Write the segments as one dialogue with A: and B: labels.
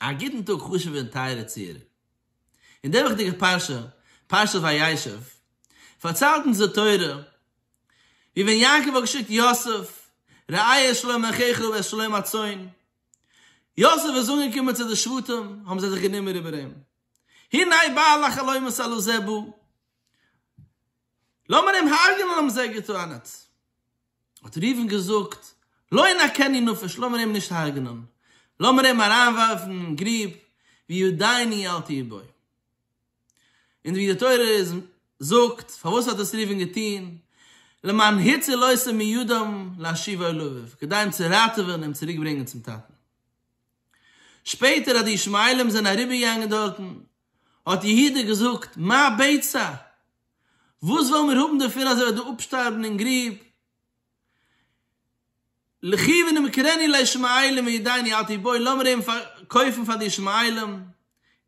A: א גוטן טאג חשוב'ע און טייערע צוהערער. אין די וואכדיגע פרשה, פרשת וישב, פארציילט אונז די תורה ווי ווען יעקב האט געשיקט יוסף, ראה את שלום אחיך ואת שלום הצאן, יוסף איז אנגעקומען צו די שבטים, האבן זיי זיך גענומען איבער אים, הנה בא אל החלומות אל עוזה בו, לאמיר אים הרג'נען האבן זיי געטענה'ט. האט ראובן געזאגט, לא ינקני נפש, לאמיר אים נישט הרג'נען, לאמיר אים אריינווארפן אין גריב, ויודעני אל תהיה בו. און ווי די תורה זאגט, פארוואס האט עס ראובן געטון, למען הציל אותו מידם להשיבו לאביו, כדי אים צו ראטעווען אים צוריקברענגען צום טאטן. שפעטער אז די ישמעאלים זענען אריבערגעגאנגען דארטן, האט יהודה געזאגט, מה בצע? וואס וועלן מיר האבן דערפון אז ער וועט דא אפשטארבן אין גרוב? לכי ונמכרני לישמעאלים וידעני אל תיבאי, לאמיר אים פארקויפן פאר די ישמעאלים,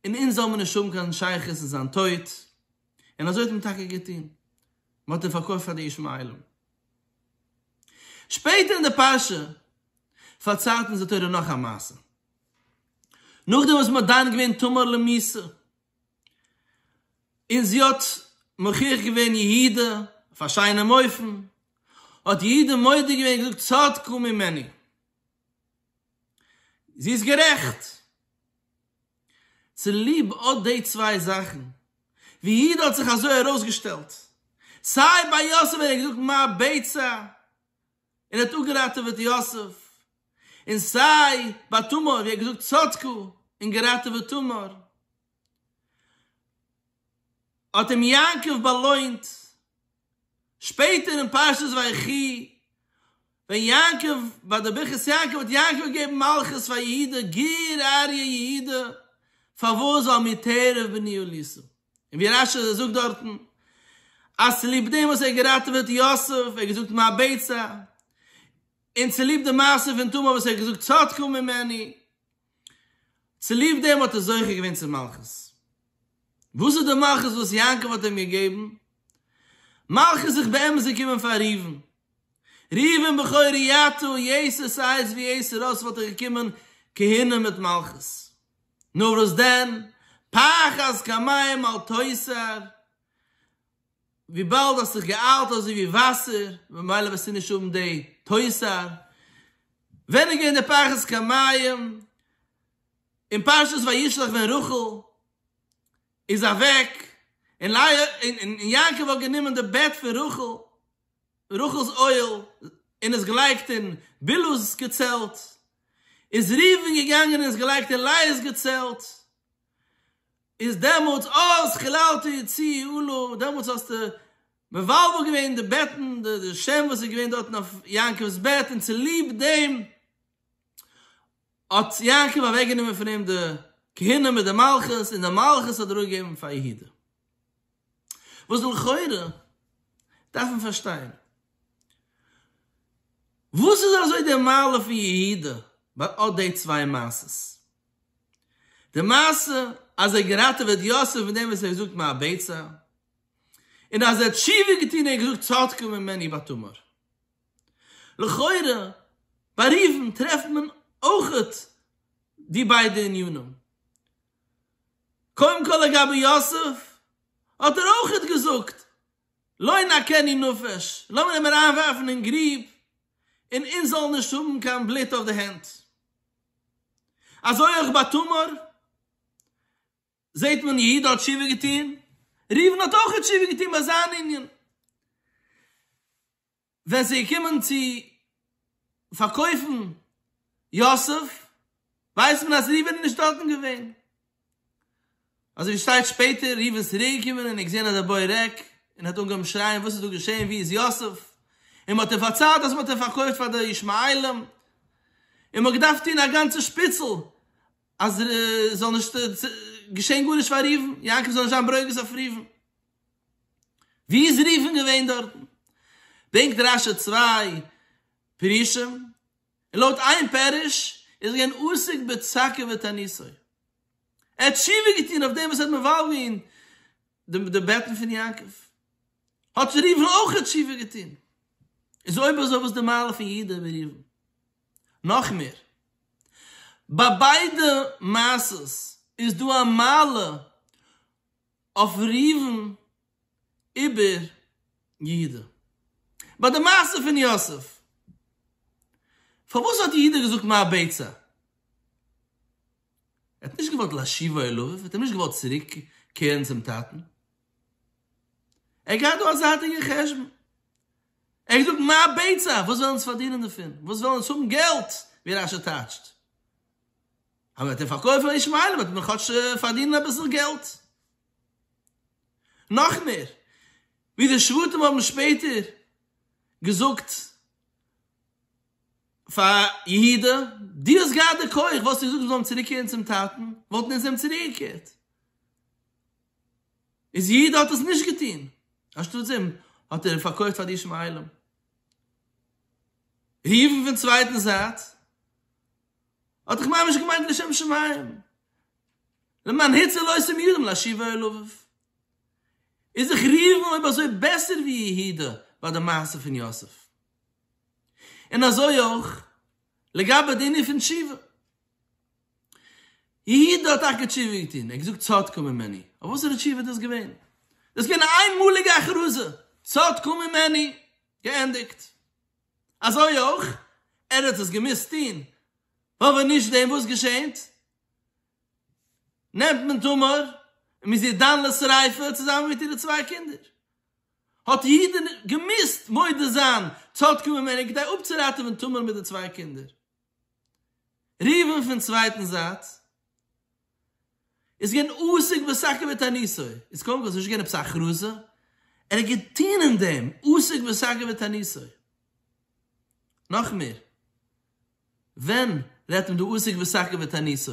A: און אונז זאלן מיר נישט האבן קיין שייכות אין זיין טויט. און אזוי האט מען טאקע געטון, מען האט אים פארקויפט פאר די ישמעאלים. שפעטער אין די פרשה פארציילט אונז די תורה נאך א מעשה, נאכדעם וואס מען האט דן געווען תמר למסור, און זי האט מוכיח געווען יהודה אויף א שיינעם אופן, האט יהודה מודה געווען און געזאגט צדקו ממני, זי איז גערעכט. צוליב אט די צוויי זאכן, ווי יהודה האט זיך אזוי ארויסגעשטעלט, סיי ביי יוסף ווען ער האט געזאגט מה בצע, און ער האט אפגעראטעוועט יוסף, און סיי ביי תמר ווי ער האט געזאגט צדקו און געראטעוועט תמר, האט אים יעקב באלוינט, שפעטער אין פרשת ויחי ווען יעקב ביי די ברכת יעקב האט יעקב געגעבן מלכות פאר יהודה, גר אריה יהודה, פארוואס ווייל מי תערב בני אליסה, און ווי רש י זאגט דארטן אז צוליב דעם וואס ער האט געראטעוועט יוסף, ער האט געזאגט מה בעצה, און צוליב די מעשה פון תמר וואס ער האט געזאגט צדקו ממני, צוליב דעם האט ער זוכה געווען צום מלכות. וואס איז די מלכות וואס יעקב האט אים געגעבן? מלכות זיך באמת צו קומען פאר ראובן. ראובן בכורי יתו, יעשו סאיז ווי יעשו ר'איז וואלט ער געקומען כהנה מיט מלכות. נאר וואס דען, פח אז כמים אל תוסר, וויבאלד האסט זיך געאיילט אזוי ווי וואסער, ממילא וועסטו נישט האבן די תוסר. ווען איז געווען די פח אז כמים? אין פרשת וישלח ווען רחל איז אוועק און לאה און יעקב האט גענומען די בעט פון רחל. רחל'ס אוהל און עס געלייגט אין בלהה'ס געצעלט, איז ראובן געגאנגען און עס געלייגט אין לייה'ס געצעלט, איז דעמאלטס אז חיללת יצי עלה, דעמאלטס האסטו מבלבל געווען די בעטן, די שם וואס איז געווען דארטן אויף יעקב'ס בעט, און צוליב דעם האט יעקב אוועקגענומען פון אים די כהונה מיט די מלכות, און די מלכות האט ער אפגעגעבן פאר יהודה. וואס לכאורה דארף מען פארשטיין, וואס איז אזוי די מעלה פון יהודה ביי אט די צוויי מעשות? די מעשה אז ער געראטעוועט יוסף מיט דעם וואס ער האט געזאגט מה אבצע, און אז ער האט תשובה געטון און ער האט געזאגט צדקה ממני בת תמר. לכאורה ביי ראובן טרעפט מען אויך די ביידע ענינים. קודם כל לגבי יוסף, האט ער אויכעט געזאגט לא ינקני נפש, לאמיר אים אריינווארפן אין גרוב און אונז זאלן נישט האבן קיין בלוט אויף די הענט. אזוי אויך ביי תמר זעט מען יהודה האט תשובה געטון, ראובן האט אויכעט תשובה געטון ביי זיין ענין. ווען ס'איז געקומען צו פארקויפן יוסף, ווייסט מען אז ראובן איז נישט דארטן געווען. אזוי ווי שטייט שפעטער, ראובן איז צוריקגעקומען און האט געזען אז דער בוי ריק, און האט אנגעהויבן שרייען, וואס איז דא געשען, וואו איז יוסף? און מ'האט אים פארציילט אז מ'האט אים פארקויפט פאר די ישמעאלים, און מ'האט געדארפט טון א גאנצע שפיצל אז ס'זאל נישט געשען גארנישט פאר ראובן, יעקב זאל נישט זיין ברוגז אויף ראובן. ווי איז רופין געווען דארטן? ברענגט רש י צוויי פירושים, און לויט איין פירוש איז ער געווען עוסק בצעקה ותעניתו, ער האט תשובה געטון אויף דעם וואס ער האט מבער געווען די בעטן פון יעקב, האט רופין אויך תשובה געטון, איז אויב אזוי וואס איז די מעלה פון יהודה און רופין? נאך מער, ביי ביידע מעשות איז דא א מעלה, אויף ראובן איבער יהודה. ביי די מעשה פון יוסף, פארוואס האט יהודה געזאגט מה הביצה? ער האט נישט געוואלט להשיבו אל אביו, ער האט אים נישט געוואלט צוריק קערן צום טאטן. ער האט געהאט דא א זייטיגע חשבון. ער האט געזאגט מה הביצה? וואס וועלן אונז פארדינען דערפון? וואס וועלן אונז האבן געלט? ווי רשי טייטשט. אבער וועט ער פארקויפן און ישמעאל וועט מען כאטש פארדינען אביסל געלט. נאך מער, ווי די שבטים האבן שפעטער געזאגט פאר יהודה, דו האסט געהאט די כח, וואלסטו געזאגט זיי זאלן צוריקקערן צום טאטן, וואלטן אונז אים צוריקגעקערט. איז יהודה האט עס נישט געטון, אנשטאטס דעם האט ער פארקויפט פאר די ישמעאלים. ראובן פון צווייטן זייט, האט דאך ממש געמיינט לשם שמים, למען היצא לא עשו מידם להשיב אל לבב. איז זיך ריווען אויב אזוי בעסער ווי יהודה ביי די מעשה פון יוסף. און אזוי אויך לגבי די ענין פון תשובה. יהודה האט טאקע תשובה געטון, ער האט געזאגט צדקו ממני, אבער וואסערע תשובה איז דאס געווען? דאס איז געווען אן איינמאליגע הכרזה, צדקו ממני, געענדיגט. אזוי אויך ער האט עס געמוזט טון ווייל ווען נישט דעם וואס געשעהט? נעמט מען תמר און מ'איז איר דן לשריפה צוזאמען מיט אירע צוויי קינדער. האט יהודה געמוזט מודה זיין צו אטקעווען מענין כדי אפצוראטעווען תמר מיט די צוויי קינדער. ראובן פון צווייטן זייט איז געווען עסוק בסך הכל בתעניתו, איז קודם כל עס איז נישט געווען עפעס א הכרזה, ער האט געטון אין דעם, עסוק בסך הכל בתעניתו. נאך מער, ווען רעדט מען דא עסוק בסך הכל בתעניתו?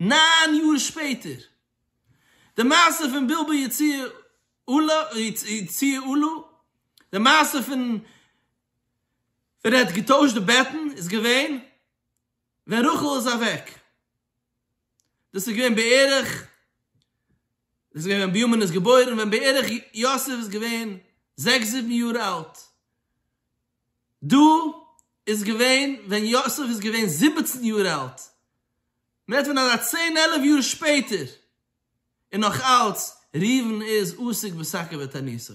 A: ניין יאר שפעטער, די מעשה פון בלבול יציע עלה, די מעשה פון ווען ער האט געטוישט די בעטן איז געווען ווען רחל איז אוועק, דאס איז געווען בערך, דאס איז געווען ווען בנימין איז געבוירן, ווען בערך יוסף איז געווען זעקס זיבן יאר אלט, דא איז געווען ווען יוסף איז געווען זיבעצן יאר אלט, מען רעדט פון אזא צען עלף יאר שפעטער, און נאך אלץ ראובן איז עסוק בשקר ותעניתו.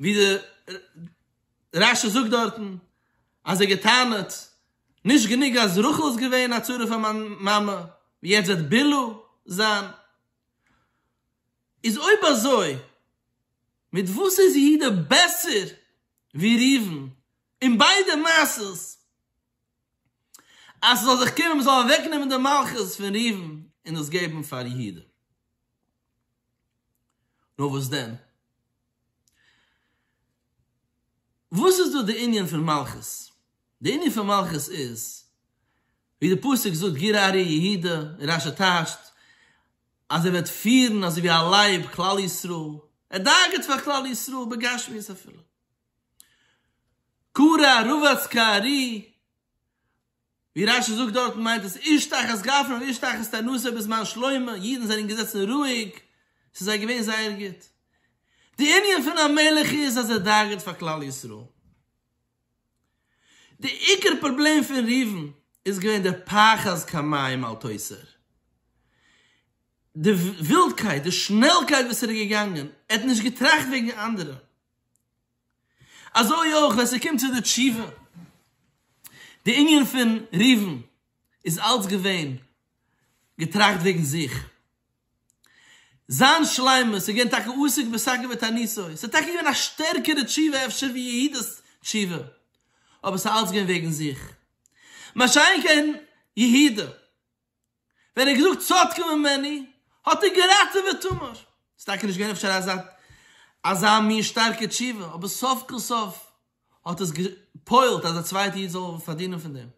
A: ווי די רש י זאגט דארטן אז ער האט געטענה'ט נישט גענוג אז רחל איז געווען א צרה פאר מיין מאמע ווי יעצט וועט בלהה זיין, איז אויב אזוי מיט וואס איז יהודה בעסער ווי ראובן אין ביידע מעשות? אז ס'זאל זיך קומען מ'זאל אוועקנעמען די מלכות פון ראובן און דאס געבן פאר יהודה. נאר וואס דען? וואס איז דא די ענין פון מלכות? די ענין פון מלכות איז ווי די פסוק זאגט גר אריה יהודה רש ע טייטשט אז ער וועט פירן אזוי ווי א לייב כלל ישראל, ער דאגה'ט פאר כלל ישראל בגשמיות אפילו. קרא רבץ כארי, ווי רש י זאגט דארטן מיינט עס איש תחת גפנו ואיש תחת תנורו בזמן שלמה, אידן זענען געזעצן רואיג, ס'איז זיי געווען זייער גוט. די ענין פון א מלך איז אז ער דאגה'ט פאר כלל ישראל. די עיקר פראבלעם פון ראובן איז געווען דער פחז כמים אל תוסר. די ווילדקייט, די שנעלקייט וואס ער איז געגאנגען, ער האט נישט געטראכט וועגן אנדערע. אזוי אויך ווען ס'קומט צו די תשובה, די ענין פון ראובן איז אלץ געווען געטראכט וועגן זיך, זיין שלימות איז געווען טאקע עוסק בשגה ותעניתו, ס'איז טאקע געווען א שטערקערע תשובה אפשר ווי יהודה'ס תשובה, אבער ס'איז אלץ געווען וועגן זיך, מה שאין כן יהודה. ווען ער האט געזאגט צדקו ממני האט ער געראטעוועט תמר. ס'איז טאקע נישט געווען אפשר אזא אזא מין שטארקע תשובה, אבער סוף כל סוף האט עס געפועלט אז א צווייטע איד זאל פארדינען פון דעם.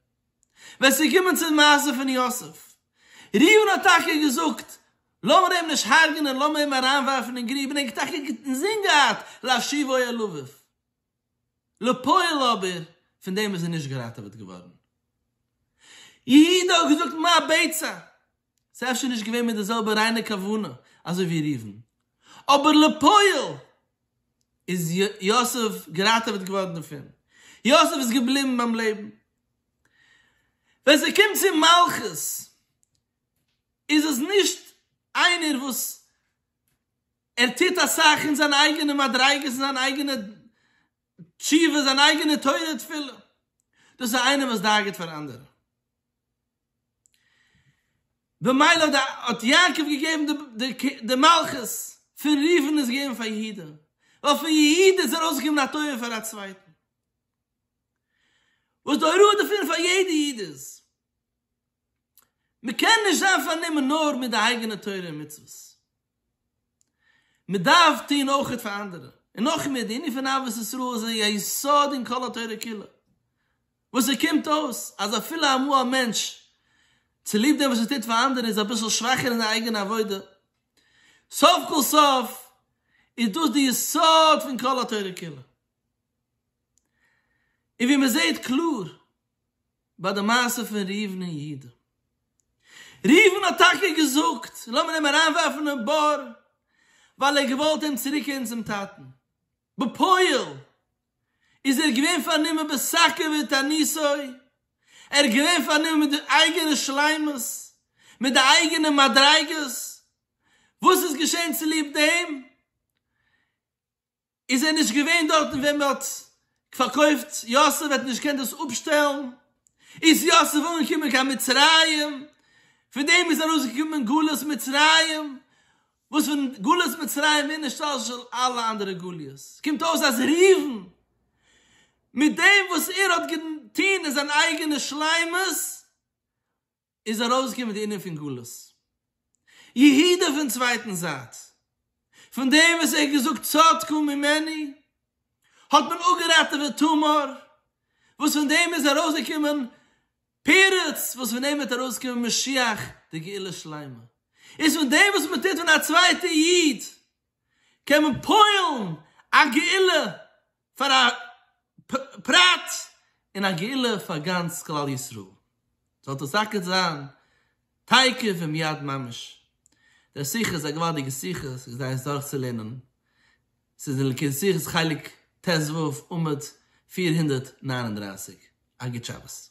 A: ווען ס'איז געקומען צום מעשה פון יוסף, ראובן האט טאקע געזאגט לאמיר אים נישט הרג'נען, לאמיר אים אריינווארפן אין גריב, און ער האט טאקע אינזין געהאט להשיבו אל אביו. לפועל אבער פון דעם איז ער נישט געראטעוועט געווארן. יהודה האט געזאגט מה הביצה? ס'איז אפשר נישט געווען מיט די זעלבע ריינע כוונה אזוי ווי ראובן, אבער לפועל איז יוסף געראטעוועט געווארן דערפון, יוסף איז געבליבן ביים לעבן. ווען ס'קומט צו מלכות איז עס נישט איינער וואס ער טוט אסאך אין זיינע אייגענע מדריגות אין זיינע אייגענע תשובות זיינע אייגענע תורה תפילה דאס איז איינער וואס דאגה'ט פאר אנדערע במילא האט יעקב געגעבן די מלכות פון ראובן איז געווען פאר יהודה ווייל פון יהודה איז ארויסגעקומען א תורה פאר א צווייטן וואס די הוראה דערפון פאר יעדע איד איז. מ'קען נישט זיין פארנומען נאר מיט די אייגענע תורה און מצוות, מ'דארף טון אויכעט פאר אנדערע, און נאך מער, די ענין פון אהבת ישראל איז א יסוד אין כל התורה כולה, וואס עס קומט אויס אז אפילו אמאל א מענטש צוליב דעם וואס ער טוט פאר אנדערע איז אביסל שוואכער אין זיין אייגענע עבודה, סוף כל סוף איז דאס די יסוד פון כל התורה כולה, און ווי מ'זעט קלאר. ביי די מעשה פון ראובן און יהודה. ראובן האט טאקע געזאגט לאמיר אים אריינווארפן אין בור ווייל ער האט געוואלט אים צוריקהערן צום טאטן. בפועל איז ער געווען פארנומען בשקר ותעניתו, ער איז געווען פארנומען מיט די אייגענע שלימות, מיט די אייגענע מדריגות. וואס איז געשען צוליב דעם? איז ער נישט געווען דארטן ווען מען האט פארקויפט יוסף האט נישט געקענט דאס אפשטעלן איז יוסף אנגעקומען קיין מצרים פון דעם איז ארויסגעקומען גלות מצרים וואס פון גלות מצרים מער נשתלשל של אלע אנדערע גליות קומט אויס אז ראובן מיט דעם וואס ער האט געטון אין זיין אייגענע שלימות איז ארויסגעקומען די ענין פון גלות יהודה פון צווייטן זייט, פון דעם וואס ער האט געזאגט צדקו ממני האט מען אפגעראטעוועט תמר, וואס פון דעם איז ארויסגעקומען פרץ, וואס פון דעם וועט ארויסקומען משיח די גאולה שלימה, איז פון דעם וואס מען טוט פון א צווייטע איד קען מען פועל'ן א גאולה פאר א פרט און א גאולה פאר גאנץ כלל ישראל, זאל דאס טאקע זיין תיכף ומיד ממש, דער שיחה איז א געוואלדיגע שיחה, עס איז כדאי עס דורכצולערנען, עס איז אין לקוטי שיחות חלק ט ו עמוד פֿיר הונדערט נײַן און דרײַסיק, א גוט שבת.